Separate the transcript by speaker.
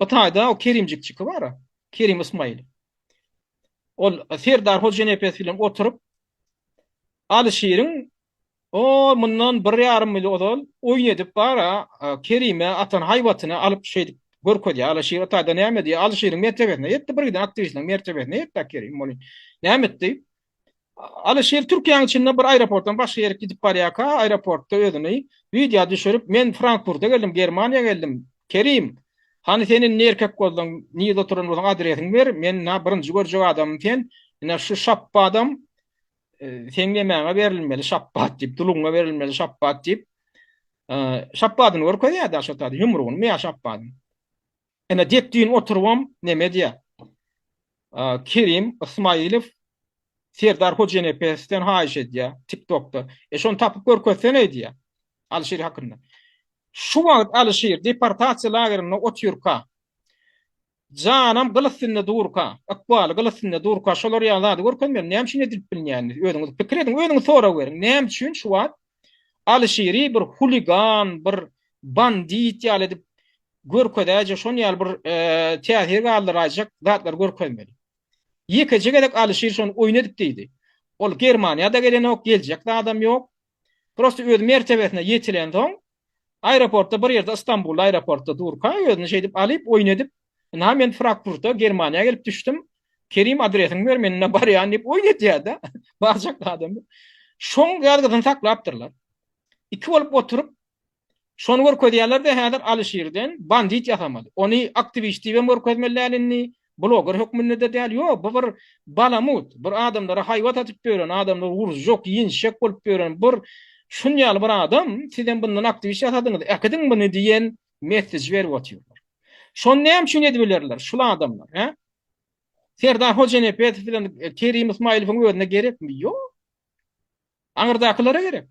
Speaker 1: Bu taýda o Kerimjik çyky bar-a, Kerim Ysmaýyl. Ol Serdar Hojanepes bilen oturyp, Alyşiriň o mundan bir ýarym ýyl ozal oýun edip bar-a, Kerime atan haýbatyny alyp şeýdip görkezýär. Alyşir o taýda näme diýýär? Alyşiriň mertebesine ýetdi, birgiden aktiwistleriň mertebesine ýetdi-ä Kerim bolin. Näme etdi? Alyşir Türkiýäň içinde bir aeroportdan başga ýere gidip barýarka, aeroportda özüni wideo düşürip, men Frankfurda geldim, Germaniýa geldim. Kerim, hany sen indi erkek bolsaň, nirde oturan bolsaň adresiňi ber, men ina birinji görjek adamym sen, ina şu şapbadam seň nemäňe berilmeli şapbat diýip, dulugyňa berilmeli şapbat diýip, şapbadyny görkezýärdi aşa taýda, ýumrugynymy ýa şapbadyny. Ene dek düýn oturybam neme edýär? Kerim Ysmaýylow Serdar Hojenepesden haýyş edýär, TikTokda. E şony tapyp görkezseneý diýýär. Alyşir hakynda. Şu wagt Alyşir deportasiýa lagerinde otyrka, janam gyl üstünde durka, ykbaly gyl üstünde durka şolar ýaly zady görkezmeli. Näme üçin edilip bilmeýändiniz? Özüňiz pikir ediň, özüňiz sorag beriň. Näme üçin şu wagt Alyşiri bir huligan, bir bandit ýaly edip görkezäýjek, şon ýaly bir täsir galdyraýjak zatlar görkezmeli. Ýekeje gezek Alyşir şony oýun edip diýdi. Ol Germaniýa-da gelenok, geljek zadam ýok. Prosta öz mertebesine ýetilensoň, aeroportda bir ýerde Istanbulda aeroportda durka özüni şeýdip alyp, oýun edip, Ynha men Frakfurta Germaniýa gelip düşdüm. Kerim adresiňi ber men ine barýan diýip oýun etýärdi. Barjak adam. Şoň ýazgysyny saklapdyrlar. Iki bolup oturyp Şony görkezýärler-de häzir Alyşirden bandit ýasamaly. Ony aktiwist diýibem görkezmeli däl indi, bloger hökmünde-de däl. Ýo, bu bir balamut, bir adamlara haýbat atyp ýören, adamlary urjak, ýenjek bolup ýören bir şunýaly bir adam, sizem bundan aktiwist ýasadyňyz, äkidiň muny diýen Message berip otyrlar. Şony näme üçin edip bilerler şul adamlar, hä? Serdar Hojanepedow bilen Kerim Ismaýylowyň özüne gerekmi? Ýok. Aňyrdakylara gerek.